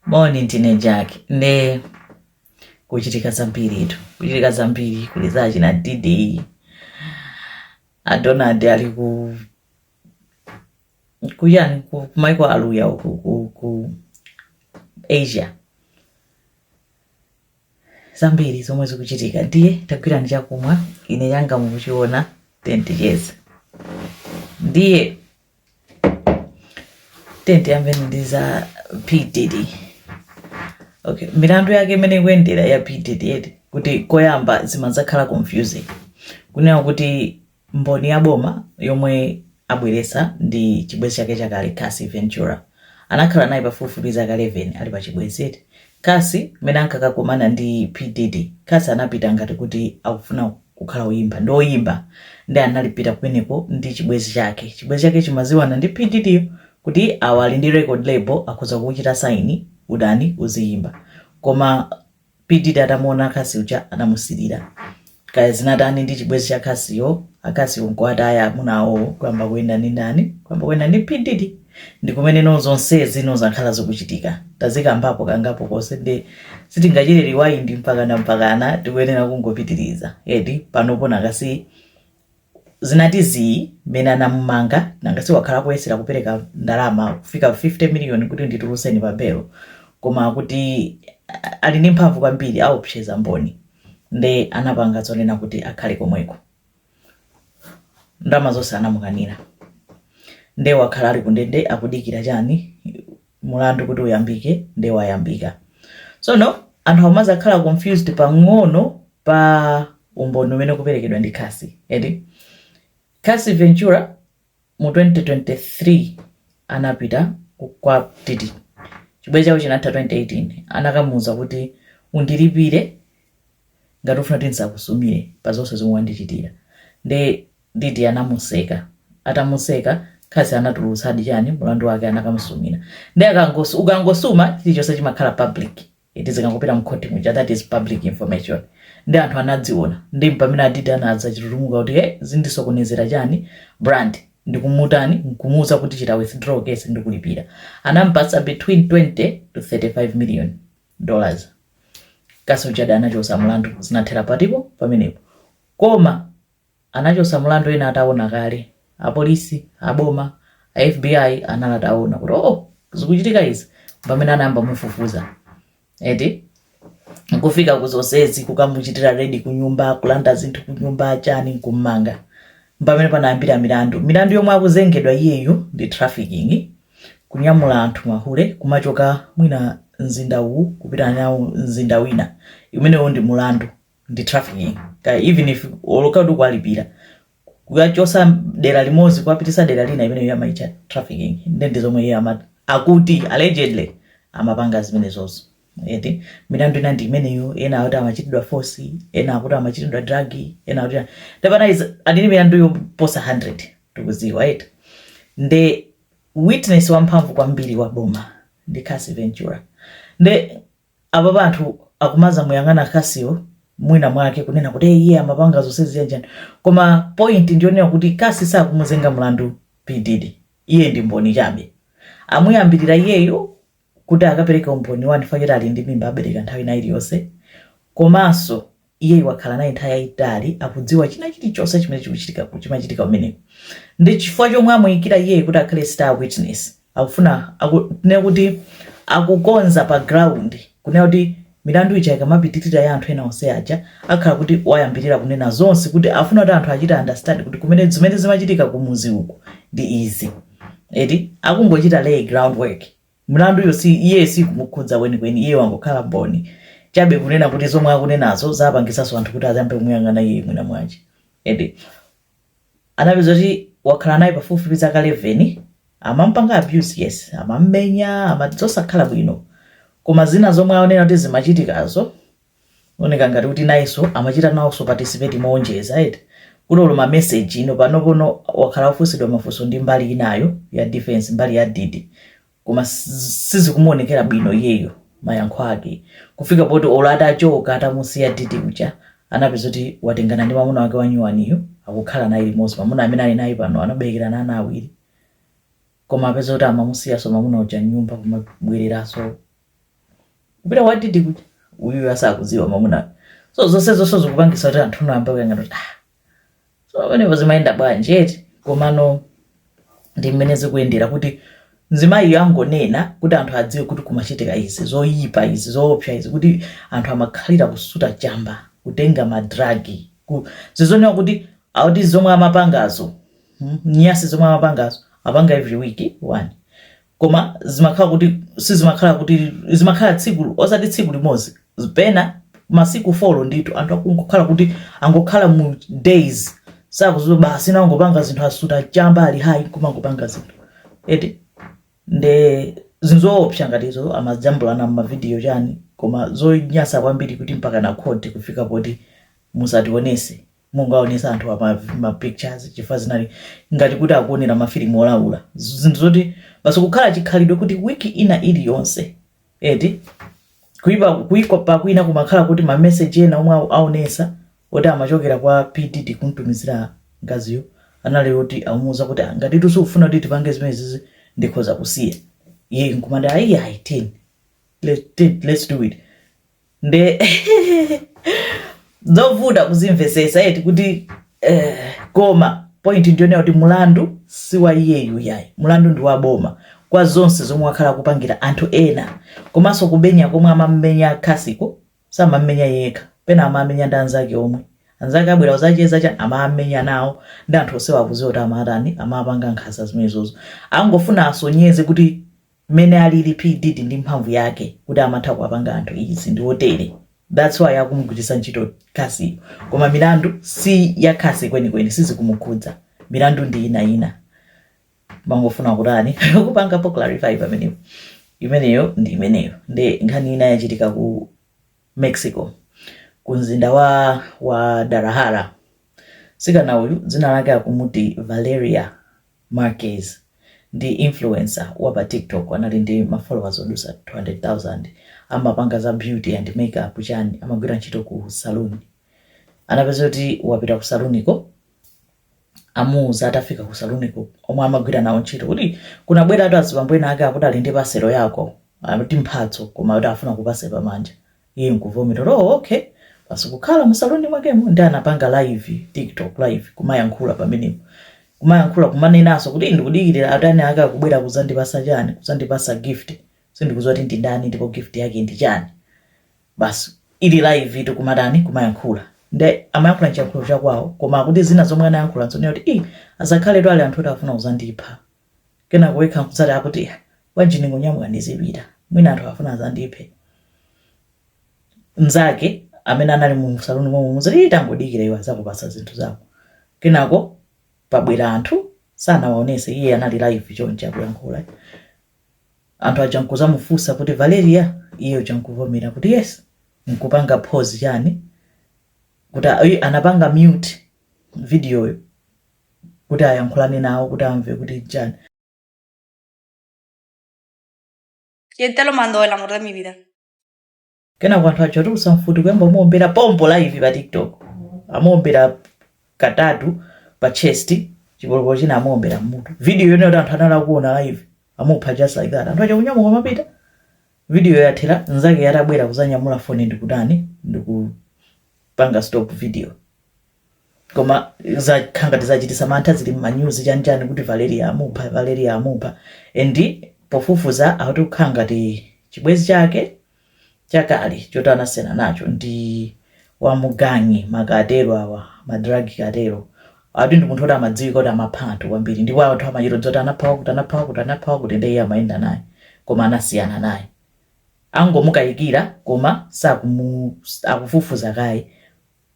moni ndine jack ndiye kuchitika zambiritu kuchitika zambiri kuli za achina Diddy adonald ali ku kuchani ku maiko aluya uku ku, ku asia zambiri zomwe zikuchitika ndiye tagwirani chakumwa ine changa mukuchiona then ticheza ndiye then tiyambeni ndi za P Diddy okay milandu yake imene ikuyendera ya P Diddy eti kuti koyamba zimazakhala confusing kunena kuti mboni ya boma yomwe abweresa ndi chibwezi chake chakale Cassie Ventura anakhala naye pafupifupi zaka 11 ali pa chibwezi eti Cassie, mmene ankakakomana ndi P Diddy, Cassie anapita ngati kuti akufuna kukhala oyimba, ndi oyimba, nde anapita kumeneko ndi chibwezi chake, chibwezi chake chimaziwana ndi P Diddyyo kuti awa ali ndi record label akhoza kukuchita sign utani uziyimba koma P Diddy atamuona Cassie uja anamusilira. kaya zinatani ndi chibwezi cha Cassieyo a Cassieyo nkuwataya amuna awowo kuyamba kuyenda ndi ndani kuyamba kuyenda ndi P Diddy ndi kumeneno zonse zino zakhala zikuchitika tazikambapo kangapo konse nde sitingachite rewind mpakana mpakana tikuyenera kungopitiriza eti panopono Cassie zinati zii mmene anamumanga nanga si wakhala akuyesera kupereka ndalama kufika 50 million kuti ndituluseni pa belo koma kuti ali ndi mphamvu kwambiri aopseza mboni nde anapanga zonena kuti akhale komweko ndalama zonse anamukanira nde wakhala ali kundende akudikira chani mulandu kuti uyambike nde wayambika tsono anthu amazakhala confused pang'ono pa umboni umene ukuperekedwa ndi Cassie eti Cassie Ventura mu 2023 anapita ku- kwa Diddy chibwezi chawo chinatha 2018 anakamuuza kuti undilipire ngati ufuna kuti ndisakusumire pa zonse zomwe wandichitira nde Diddy anamuseka atamuseka Cassie anatulutsadi chani mulandu wake anakamusumira nde akangosu ukangosuma chilichonse chimakhala public eti zikangopita mkhoti muja that is public information nde anthu anaziona ndi mpamene a Diddy anadzachita kututumuka kuti hey, zindisokonezera chani brand ndikumutani nkumuuza kuti chita withdraw case ndikulipira anampatsa between 20 to 35 million dollars Cassie uja anachosa mlandu zinathera pati po pamenepo koma anachotsa milandu ena ataona kale, apolisi, aboma, a FBI anali ataona kuti oh, zikuchitika izi, pamene anayamba kumufufuza eti kufika kuzonsezi kukamuchitira redi kunyumba kulanda zinthu kunyumba chani kummanga pamene panayambira milandu milandu yomwe akuzengedwa iyeyu ndi trafficking kunyamula anthu mahule kumachoka mwina mzinda uwu kupita nawo mzinda wina imeneyo ndi mulandu ndi trafficking kaya even if olo kaya kuwalipira kuwachosa dera limodzi kuwapitisa dera lina imeneyo amaicha trafficking nde ndi zomwe iye ama- akuti allegedly amapanga zimenezozo eti milandu ina ndi imeneyo ena akuti amachitidwa force ena akuti amachitidwa drug ena akuti ndepana is adini milandu yoposa 100 tikuziwa eti nde witness wamphamvu kwambiri wa boma ndi Cassie Ventura nde Apapa anthu akumazamuyang'ana Cassie yo mwina mwake kunena kuti ee iye amapanga zonsezi chanchani koma point ndiyonena kuti Cassie sakumuzenga mlandu P Diddy iye ndi mboni chabe amuyambilira iyeyu kuti akapereke umboni 1 chifukwa choti ali ndi mimba abereka nthawi ina iliyonse komanso Iyeyu wakhala naye nthawi yayitali, akudziwa china chilichonse chimene chikuchitika, chimachitika kumeneko. Ndi chifukwa chomwe amuyikira iyeyu kuti akhale star witness. Akufuna, aku, tinene kuti akukonza pa ground kunena kuti milandu ija ikamapitirira ya anthu ena onse aja akhala kuti wayambirira kunena zonse kuti afuna kuti anthu achite understand kuti kumene zimene zimachitika kumuzi uku ndi izi. Eti akungochita lay ground work Mlanduyo si, iye siikumukhudza kwenikweni, iye wangokhala mboni chabe kunena kuti zomwe akunenazo zapangitsanso anthu kuti ayambe kumuyang'ana iyeyu mwinamwache. Eti? Anapeza kuti wakhala naye pafupifupi zaka 11, amampanga abuse, yes, amammenya, ama, zosakhala bwino. Koma zina zomwe akunena kuti zimachitikazo, zikuoneka ngati kuti nayenso amachita nawonso participate moonjeza eti kuti olo mameseji ino panopono wakhala akufunsidwa mafunso ndi mbali inayo ya defense mbali ya didi koma s- sizikumuonekera bwino iyeyo mayankho ake kufika poti olo atachoka atamusiya didi uja anapeza kuti watengana ndi mamuna wake wanyuwaniyo akukhala naye limodzi mamuna amene ali naye pano anaberekera ana awiri koma apeza kuti amamusiyaso mamuna uja nyumba kumabwereranso kupita kwa didi kuja uyu asakuziwa mamuna so zonsezo zonse zikupangisa kuti anthu ayambe kuyang'ana kuti ah so pamenepo zimayenda bwanji eti komano ndi mmene zikuyendera kuti mzimayiyo angonena kuti anthu adziwe kuti kumachitika izi zoyipa izi zoopsa izi kuti anthu amakhalira kusuta chamba kutenga madragi ku zizonena kuti akuti zomwe amapangazo mm, nyasi zomwe amapangazo apanga every week one koma zimakhala kuti sizimakhala kuti zimakhala tsiku osati tsiku limodzi pena masiku folo ndithu anthu akungokhala kuti angokhala mu days sakuziwa basi nangopanga zinthu asuta chamba ali hayi kumangopanga zinthu eti nde zinthu zoopsa ndipo izo amajambulana mavidiyo chani koma zonyasa kwambiri kuti mpaka ku khoti kufika poti musationetse mungaonesa anthu ma pictures chifukwa zinali ngati kuti akuonera mafilimu olaula Z- zinthu zoti basi kukhala chikhalidwe kuti wiki ina iliyonse eti kuipa kwake kwina kumakhala kuti mameseji ena omwe au- aonesa oti amachokera kwa P Diddy kumtumizira mkaziyo anali oti amuuza kuti "Ah, ngati tu sukufuna kuti tipange zimenezizi ndikhoza kusiya iye nkumati ayi ayi then let- then let's do it nde zovuta kuzimvesesa eti kuti eh, koma point ndi yonena kuti mulandu si wa iyeyu yayi mulandu ndi wa boma kwa zonse zomwe wakhala akupangira anthu ena komanso kumenya komwe amammenya Cassie ko samammenya yekha pena amamenya ndi anzake omwe anzake abwera kuzacheza chani amamenya nawo ndi anthu onsewa akuziwa kuti amatani amapanga nkhanza zimenezozo angofuna asonyeze kuti mmene alili P Diddy ndi mphamvu yake kuti amatha kuwapanga anthu izi ndi otere that's why akumugwiritsa ntchito Cassie yo koma milandu si ya Cassie kwenikweni sizikumukhudza milandu ndi ina ina ndimangofuna kutani kupangapo clarify pamenepo imeneyo ndi imeneyo nde nkhani ina yachitika ku Mexico, ku mzinda wa Guadalajara. Mtsikana uyu dzina lake akumuti Valeria Marquez ndi influencer wa pa TikTok, anali ndi ma followers odusa 200,000. Amapanga za beauty and makeup chani, amagwira ntchito ku saloon. Anapezeka kuti wapita ku saloon ko amuuza atafika ku saluniko omwe amagwira nawo ntchito kuti kunabwera anthu azibambo ena ake akuti ali ndi paselo yako ati mphatso koma kuti afuna akupase pamanja iye nkuvomera kuti oh, okay basi kukhala mu saluni mwakemo nde anapanga live tiktok live kumayankhula pamenepo kumayankhula kumanenanso kuti ndikudikirira anthu ena ake akubwera kuzandipasa chani kuzandipasa gift sindikuziwa kuti ndi ndani ndipo gift yake ndi chani basi ali live tu kumatani kumayankhula nde amayankhula nchiyankhulo chakwawo koma akuti zina zomwe anayankhula nzonena kuti i azakhale tu ali anthu oti afuna kuzandipha kenako yekha nkudzati akuti "Ah, bwanji ndingonyamuka ndizipita mwina anthu afuna azandiphe mnzake amene anali mu saluni momwe nkuzati "Ii, tangodikira iwe azakupasa zinthu zako kenako pabwera anthu sanawaonese iye anali live chonchi akuyankhula anthu aja nkuzamufusa kuti valeria iye uja nkuvomera kuti yes nkupanga pause chani kuti ayi anapanga mute videoyo kuti ayankhulane nawo kuti amve kuti chani ¿Quién te lo mandó el amor de mi vida? Kenako anthu aja atulutsa mfuti kuyamba kumuombera pompo live pa TikTok. Amuombera katatu pa chest, chipolopolo china amuombera mmutu. Video yone yoti anthu anali akuona live. Amupha just like that. Anthu aja kunyamuka kumapita. Video yathera nzake yatabwera kuzanyamula foni ndikutani ndikupanga stop video. Koma zakhala ngati zachitisa mantha zili mmanyuzi chani chani kuti Valeria amupha, Valeria amupha. And pofufuza akuti akhala ngati chibwezi chake chakale choti anasiyana nacho ndi wa mu gang ma cartel awa madragi cartel ati ndi munthu oti amadziwika kuti amapha anthu kwambiri ndipo anthu amachita kudziwa zoti anapha wakuti anapha wakuti anapha wakuti ndiye iye amayenda naye koma anasiyana naye angomukayikira koma saku- akufufuza kaye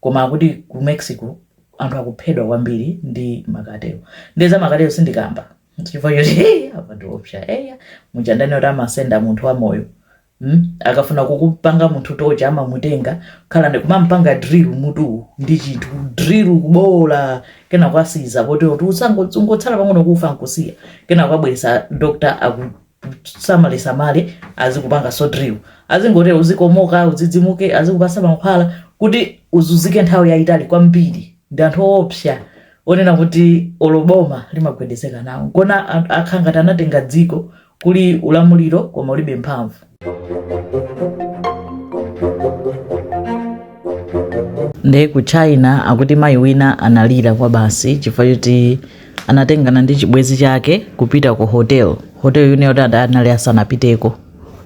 Koma akuti ku Mexico anthu akuphedwa kwambiri ndi ma cartel. Ndiye za ma cartel sindikamba. Chifukwa choti hey, awa ndiopsa. Eya, muja ndinati kuti amasenda munthu wamoyo. Mm? Akafuna kumupanga munthu torture amamutenga khala ndi kumampanga drill mmutu ndi chinthu drill kubola kenaka asiya poti ungotsala pang'ono kufa nkusiya kenaka abweresa doctor aku samalesamale azikupanganso drill azingoti uzikomoka udzidzimuke azikupasa mankhwala kuti uzuzike nthawi yayitali kwambiri ndi anthu oopsa onena kuti olo boma limagwedezeka nawo nkuona akhala ngati anatenga dziko kuli ulamuliro koma ulibe mphamvu nde ku china akuti mayi wina analira kwa basi chifukwa choti anatengana ndi chibwezi chake kupita ku hotel hotel yina yoti anali asanapiteko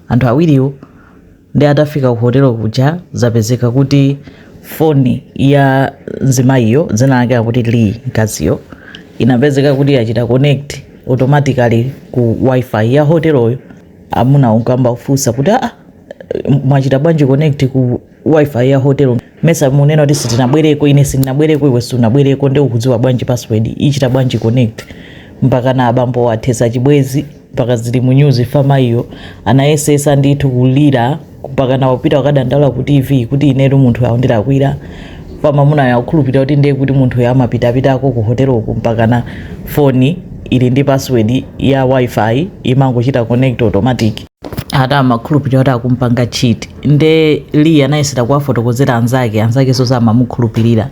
anthu awiriwo nde atafika ku hotel kuja zapezeka kuti foni ya nzimayiyo dzina lake akuti lee mkaziyo inapezeka kuti yachita connect automatically ku wifi ya hoteloyo amuna nkuyamba kufunsa kuti aa mwachita bwanji connect ku wifi ya hotel mesa mumanena kuti sitinabwereko ine sindinabwereko iwe sunabwereko nde ukudziwa bwanji password ichita bwanji connect mpakana abambo athesa chibwezi mpaka zili mu news pamayiyo anayesesa ndithu kulira mpakana kupita kukadandaula ku tv kuti inetu munthu uyo wandilakwira koma mamuna akukhulupirira kuti ndiye kuti munthu uyo amapitapitako ku hoteloko mpakana foni ili ndi password ya wifi imangochita connect automatic ati amakhulupirira kuti akumupanga cheat nde lee anayesera kuwafotokozera anzake anzakenso samamukhulupirira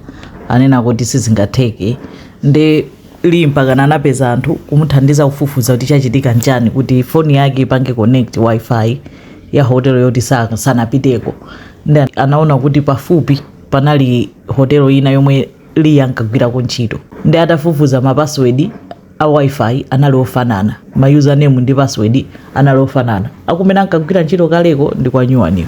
anena kuti sizingatheke nde lee mpakana anapeza anthu kumuthandiza kufufuza kuti chachitika nchani kuti foni yake ipange connect wifi ya hotelo yoti sa- sanapiteko nde anaona kuti pafupi panali hotelo ina yomwe Lee ankagwirako ntchito. Ndiye atafufuza ma password a Wi-Fi anali ofanana. Ma username ndi password anali ofanana. Akumene ankagwira ntchito kaleko ndi kwa nyuwaniyo.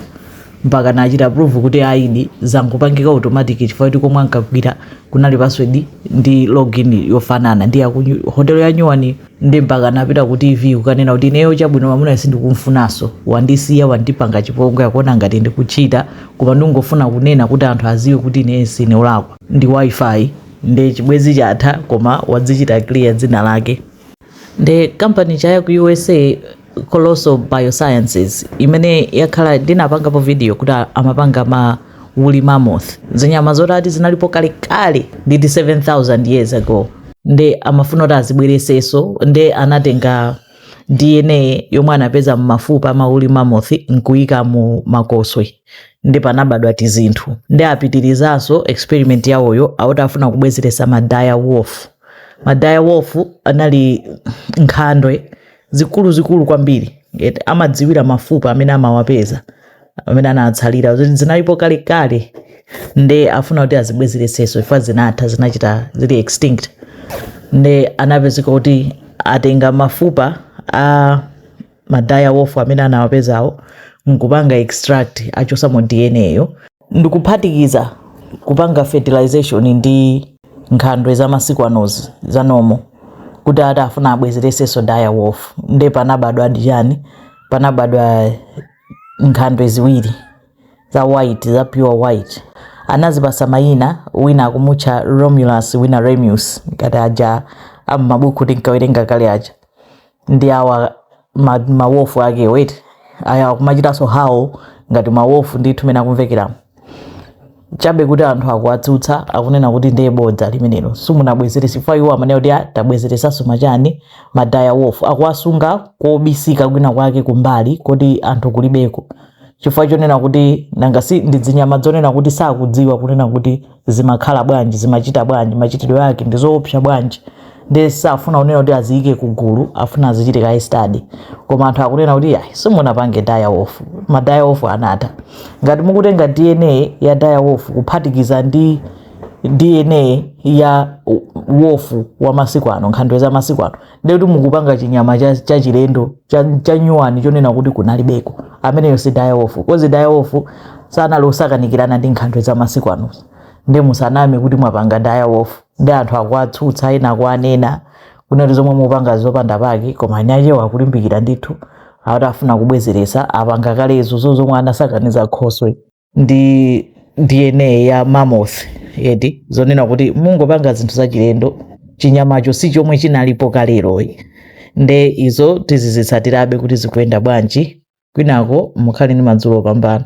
Mpaka anachita prove kuti ayidi zinkangopangika automatic chifukwa choti komwe ankagwira kunali password ndi login yofanana ndi ya ku nyu- hotel ya nyuwaniyo. nde mpaka anapita ku tv kukanena kuti ineyo chabwino mwamunayo sindikumfunaso wandisiya wandipanga chipongwe akuona ngati ndikucheata koma ndingofuna kunena kuti anthu aziwe kuti ine sine olakwa ndi wifi nde chibwezi chatha koma wadzichita clear dzina lake nde company chaya ku usa Colossal Biosciences, imene yakhala ndinapangapo video kuti amapanga ma woolly mammoth, zinyama zoti ati zinalipo kalekale ati 7000 years ago, nde amafuna kuti azibwereseso nde anatenga DNA yomwe anapeza mmafupa ama woolly mammoth nkuika mu makoswe nde panabadwa tizinthu nde apitirizaso experiment yawoyo akuti afuna kubwezeresa ma dire wolf. Ma dire wolf anali nkhandwe. zikuluzikulu kwambiri ati amadziwira mafupa amene amawapeza amene anatsalira zoti zinalipo kalekale nde afuna kuti azibwezereseso zinafa zinatha zinachita zili extinct nde anapezeka kuti atenga mafupa a ma dire wolf amene anawapezawo nkupanga extract achosamo dna yo ndikuphatikiza kupanga fertilization ndi nkhandwe za masiku anozi za normal kuti ati afuna abwezereseso dire wolf nde panabadwa chani panabadwa nkhandwe ziwiri za white za pure white anazipasa mayina wina akumutcha romulus wina remus ngati aja ammabuku tinkawerenga kale aja ndi awa ma, ma wolf ake wait eya akumachitanso howl ngati ma wolf ndithu mene akumvekeramu chabe kuti anthu akuwatsutsa akunena kuti ndiye bodza limenelo simunabwezerese chifukwa iwo amanena kuti "Ah, tabwezeresanso machani ma dire wolf akuwasunga kobisika kwina kwake kumbali koti anthu kulibeko chifukwa chonena kuti nanga si ndi zinyama zonena kuti sakudziwa kunena kuti zimakhala bwanji zimachita bwanji machitidwe ake ndi zoopsa bwanji ndiye safuna kunena kuti aziyike kugulu afuna azichite kaye study koma anthu akunena kuti ayi simunapange dire wolf ma dire wolf anatha ngati mukutenga dna ya dire wolf kuphatikiza ndi dna ya wolf wa masiku ano nkhandwe za masiku ano ndekuti mukupanga chinyama cha- chachilendo cha- chanyuwani chonena kuti kunalibeko ameneyo si dire wolf coz dire wolf sanali osakanikirana ndi nkhandwe za masiku anozo nde musaname kuti mwapanga dire wolf nde anthu akuwatsutsa ena akuwanena kunena kuti zomwe mupanga zopanda pake koma eniakewo akulimbikira ndithu akuti afuna kubwezeretsa apanga kalezo zomwe anasakaniza khoswe ndi dna ya mammoth eti zonena kuti mungopanga zinthu zachilendo chinyamacho si chomwe chinalipo kaleroyi nde izo tizizitsatirabe kuti zikuyenda bwanji kwinako mukhale ndi madzulo opambana